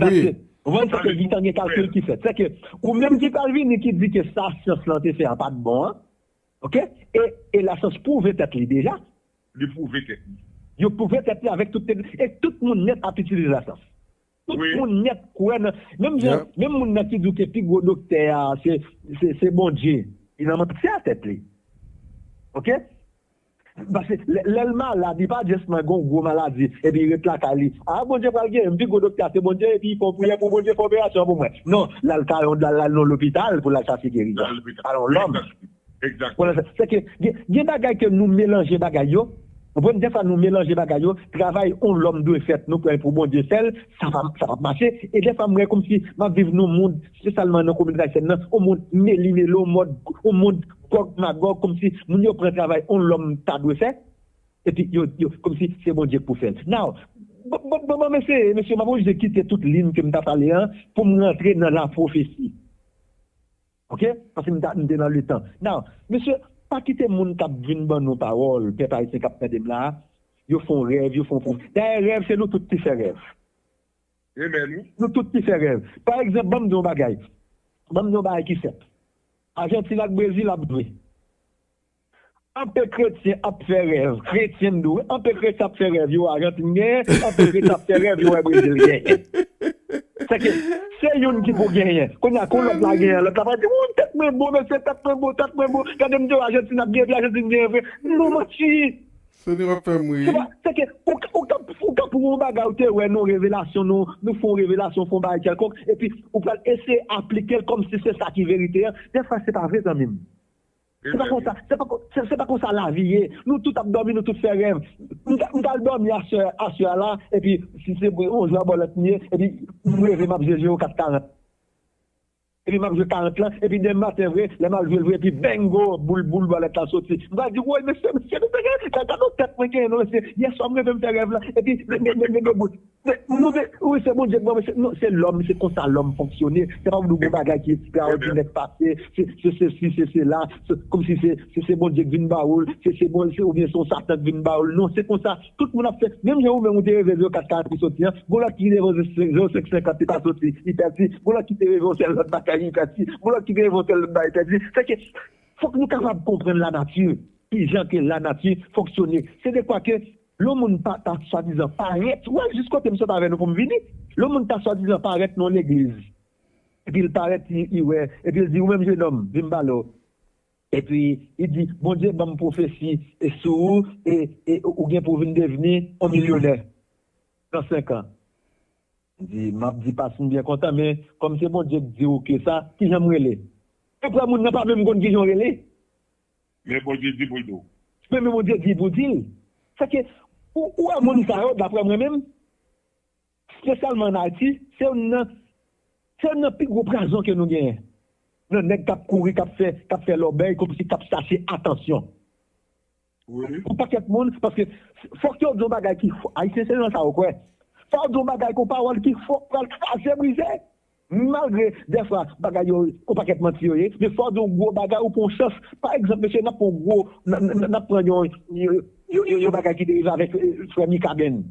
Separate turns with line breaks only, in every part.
Wi.
Konprann se ke gitan gen kalkil ki fèt. Sèke ou menm ki pral vini ki di ke sa syans lan te fè an pat bon an, ok, e e lasyans pwouve tèt li deja. Li pwouve
tèt li. Yo pwouve tèt
li avèk tout tekn, e tout moun nèt ap itilize lasyans. Tout moun nèt kwè nan, menm jan, menm moun nan ki di w ke pi gwo doktè a se se se Bondye, li nan manti a tèt li. Ok? Paske lèl malad li pa just man gon gwo maladi epi ret lakay li ah bondye pral gerim pi gwo doktè a se bondye epi fon priyè pou bondye fè operasyon an pou mwen non lal ka yon lal nan yon lopital poul al chache gerizon pa yon lòm
sèke
gen bagay ke nou melanje bagay yo ou konprann dèfwa nou melanje bagay yo travay yon lòm dwe fèt nou kwè pou bondye fèl sa pap mache e dèfwa mwen komsi map viv nan yon mond spesyalman nan kominote ayisyèn nan yon mond meli melo mòd yon mond Gòg Magòg kòmsi moun yo pran travay on lòm ta dwe fè epi yo yo kòmsi se Bondye k pou fè l now bon bon m eseye mesye m ap oblije kite tout lin ke m ta pale an pou m rantre nan lapwofesi ok paske m ta m te nan letan now mesye pa kite moun k ap vin ban nou pawòl pèp ayisyen k ap tande m la a yo fon rèv yo fon dayè rèv se nou tout ki fè rèv. Amen wi. Nou tout ki fè rèv. Pa egzanp banm di yon bagay. Banm di yon bagay ki senp. Ajantin ak Brezil ap jwe. Anpe kretyen ap fè rèv. Kretyen m di w wi. Anpe kretyen ap fè rèv yo wè Ajantin genyen. Anpe kretyen ap fè rèv yo wè Brezil genyen. Sèke se youn ki pou genyen. Kounye a kon lòt la genyen lòt la pral di wouy tèt mwen bon mesye tèt mwen bon tèt mwen bon. Gade m di w Ajantin ap genyen epi Ajantin genyen vre. Nou manti. Seigneur wap fèm
ri. Seba seke
ou ka ou ka pou yon bagay ou te wè non revelasyon non nou fon revelasyon fon bagay kèlkonk epi ou pral eseye aplikel kòmsi se sa ki verite an dèfwa se pa vre zanmim se pa konsa se pa konsa lavi ye nou tout ap dòmi nou tout fè rèv m tal dòmi aswè a la epi si se yon zwabolot m ye epi m reve map jwe jwe o kat karant. Epi map jwe 40 lan epi demen maten vre lè mal jwel vre epi bengo boul boul bòlèt lan soti m pral di woy mesye mesye nou te gen gad on tèt mwen genyen non mesye yèswa m reve m fè rèv lan epi bengo boul nou te wi se Bondye k banm mesye non se lòm se konsa lòm fonksyone se pap gon bagay ki ekstraòdinè k pase se sesi se sela kòmsi se Bondye k vin ba ou l se bon oubyen se yon satan k vin ba ou l non se konsa Tout moun ap fè, menm jan ou menm ou te reve 0 4 ka ap soti an, gon lòt ki reve 0 5 50 li pa soti, li pèdi, gon lòt ki te reve yon sèl lòt bagay li pèdi, gon lòt ki te reve yon sèl lòt bagay li pèdi. Sè ke fòk nou kapab konprann lanati, ki jan ke lanati fonksyone. Se dekwa ke lè yon moun pa ta swadizan parèt, wè jis kote m sot avè nou pou m vini, lè yon moun ta swadizan parèt nan yon legliz, epi l parèt li wè, epi l di ou menm jenòm, vin m pale w. Epi, li di, Bondye ban m pwofesi sou ou e ou gen pou w vin devni yon milyonè nan senkan. Li di, M ap di pas m byen kontan, men kòm se Bondye k di w ke sa, ki jan m rele? Yo kwè moun nan pa menm konn ki jan w rele. Men
Bondye di pou l di w. Men Bondye di
pou w di l. Sèke, ou wè moun sa yo, daprè mwen menm. spesyalman an Ayiti, se youn nan se youn nan pi gwo prazon ke nou genyen nan nèg k ap kouri, k ap fè k ap fè lòbèy kòmsi k ap chache atansyon
yon pakèt moun
paske fòk yo di yon bagay ki fò Ayisyen se nan sa yo kwè fò yo di yon bagay kon pawòl ki fò k pral kraze brize malgre dèfwa bagay yo yon pakèt manti yo ye men fò w di yon gwo bagay ou pran yon chans pa egzanp mesye n ap pran yon gwo n ap pran yon yon bagay ki te rive avèk frè Mikaben.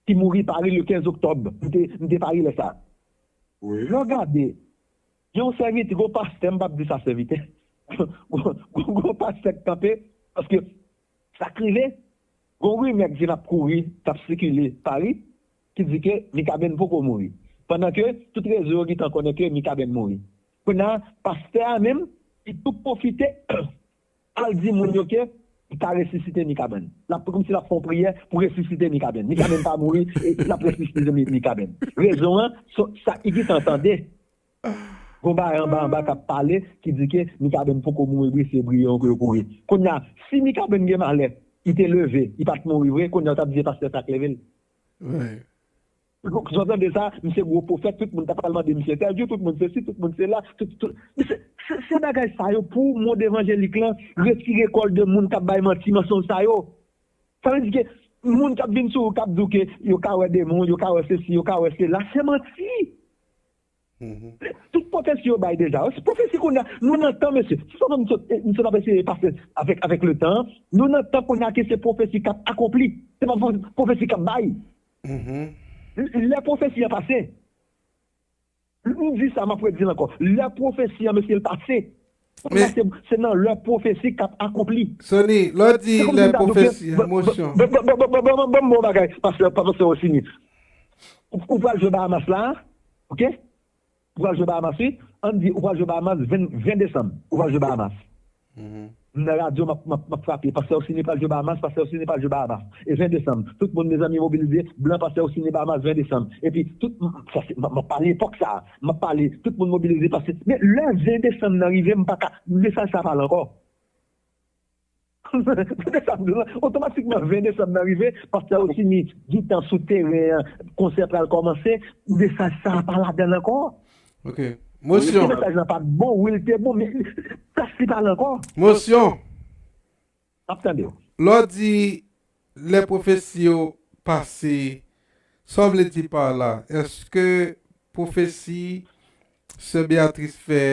Ki mouri Paris le 15 octobre. M te Paris lè sa. Lè w
gade
yon sèvitè, yon pastè, m pap di sa sèvitè, yon pastè k kanpe, paske sa k rive, yon rimè k vin ap kouri, k ap sikile Paris, ki di ke Mikaben poko mouri. Pandan ke tout rezo yo gintan konnen ke Mikaben mouri. Kounye a, pastè a menm, li tou pwofite Al di moun yo ke L ka resisite Mikaben. L ap kòmsi l ap fè yon priyè pou resisite Mikaben. Mikaben pa mouri e l ap resisite Mikaben. Rezon an, sa Igitan tande, gon bagay anba anba k ap pale ki di ke Mikaben poko mouri bri se bri yo ke yo kouri. Kounye a, si Mikaben gen malè, li te leve, li pa t mouri vre, kounye a ou t ap di se pastè sa
k
leve l? Look jan tande sa misye gwo pwofèt tout moun ta pral mande misye entèvyou tout moun sesi tout moun sela tout tout misye se bagay sa yo pou mond evanjelik lan retire kòl de moun kap bay manti mansonj sa yo sa vle di ke moun kap vin sou ou kap di w ke yo ka wè demon yo ka wè sesi yo ka wè sela se manti Tout pwofesi yo bay deja. Se pwofesi kounye a. Nou nan tan mesye. Se sa m sot ap eseye pase avèk le tan an. Nou nan tan kounye a ke se pwofesi k ap akonpli. Se pa pwofesi k ap bay. Lè pwofesi an pase. M di sa m ap redi l ankò. Lè pwofesi an mesye l pase. Men. Se nan lè pwofesi k ap akonpli. Sony, lè w di
lè pwofesi, emosyon. Ban m
bon bagay, pastè Rosiny. Ou pral jwe Bahamas la a, ok? Ou pral jwe Bahamas wi. An n di ou pral jwe Bahamas 20 desanm. Ou pral jwe Bahamas. M nan radyo m ap frape, pastè Rosiny pral jwe Bahamas, pastè Rosiny pral jwe Bahamas. E 20 desanm, tout moun mezanmi mobilize, blan pastè Rosiny Bahamas 20 desanm. Epi tout, m ap pale epòk sa a. Map pale, tout moun mobilize pase. Men lè 20 desanm nan rive m paka, mesaj sa pa la ankò. Tande sa m di w la, otomatikman 20 desanm nan rive, pastè Rosiny gintan sou teren an, konsè pral kòmanse, mesaj sa pa ladan l ankò. Ok.
Mosyon. Mesaj la pat bon,
wi l te bon men plas li pa la ankò. Mosyon. Map tande w. Lè w di
lè pwofesi yo pase, sa w vle di par la? Eske pwofesi sè Beatrice fè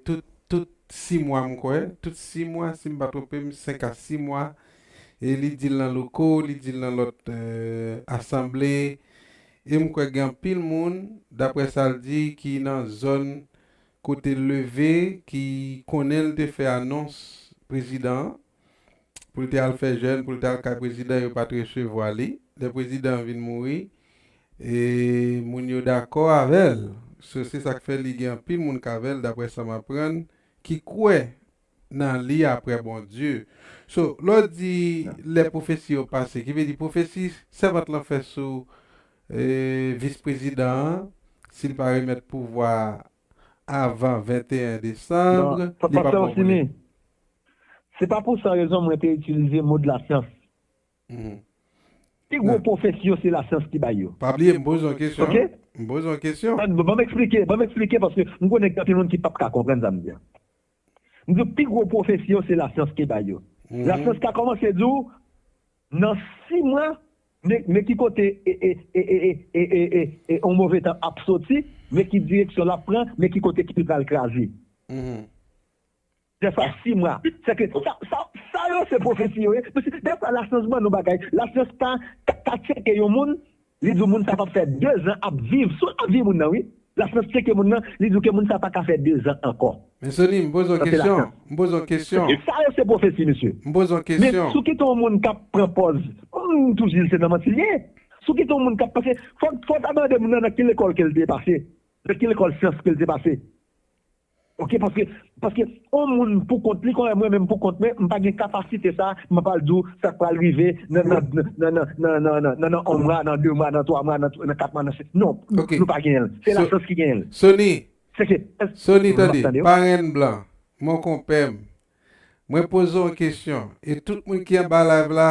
tout tout 6 mwa m kwè, tout 6 mwa si m pa twonpe m 5 a 6 mwa e li di l nan loko, li di l nan lòt asanble e m kwè gen anpil moun daprè sa l di ki nan zòn kote l leve ki konnen l te fè anons prezidan an pou l te al fè jèn pou l t al kay prezidan yo pat resevwa li lè prezidan an vin mouri e moun yo dakò avè l so se sak fè li gen anpil moun k avè l daprè sa m aprann ki kwè nan li aprè Bondye. So, lè w di lè pwofesi yo pase, ki vle di pwofesi sèvant lan fè sou Vis Prezidan an, si l pa remèt pouvwa a avan 21 desanm, li pap bon pou li.
Se pa pou san rezon mwen te itilize mo de la syans. Pi gwo pwofesi yo se la syans ki bay yo. Pa bliye m poze w
kesyon. M poze w
kesyon.
Ban m eksplike, ban m
eksplike paske m konnen gen anpil moun ki pap ka konprann sa m di a. M di w pi gwo pwofesi yo se lasyans te bay yo. Lasyans ka kòmanse di w nan si mwa men ki kote yon move tan ap soti, men ki direksyon l ap pran, men ki kote ki pral kraze. Dèfwa si mwa. Sèke sa yo se pwofesi yo ye. Dèfwa lasyans ban nou bagay. Lasyans ka tcheke yon moun. Li di w moun sa pap fè 2 zan ap viv sou lavi moun nan wi. Lafrans tcheke moun nan, li di w ke moun sa pa ka fè 2 zan ankò. Men Sony, m poze
w kesyon, m poze w kesyon. Tout sa yo se pwofesi
mesye. M poze w kesyon. Men
sou ki ton moun kap
pran pòz, m toujou di l se nan manti l ye. Sou ki ton moun kap, paske fò w ta mande moun nan nan ki lekòl ke l te pase, nan ki lekòl syans ke l te pase. Ok paske paske on moun pou kont li kòm mwen menm pou kont mwen m pa gen kapasite sa m ap al di w sa k pral rive nan nan nan nan nan on mwa nan 2 mwa nan 3 mwa nan 4 mwa nan 5 non nou pa genyen l se lachans ki genyen l soni soni tande
parenn blan monkonpè m Mwen poze yon kesyon e tout moun ki anba live la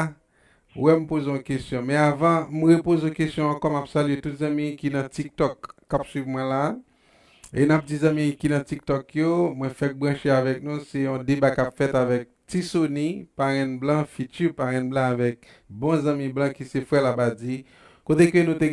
wè m poze yon kesyon men avan m repoze yon kesyon ankò map salye tout zanmi ki nan tiktok kap swiv mwen la e nap di zanmi ki nan tiktok yo mwen fèk branche avèk nou se yon deba kap fèt avèk Ti Sony parenn blan future parenn blan avèk bon zanmi blan ki se frè Labadie kote ke nou te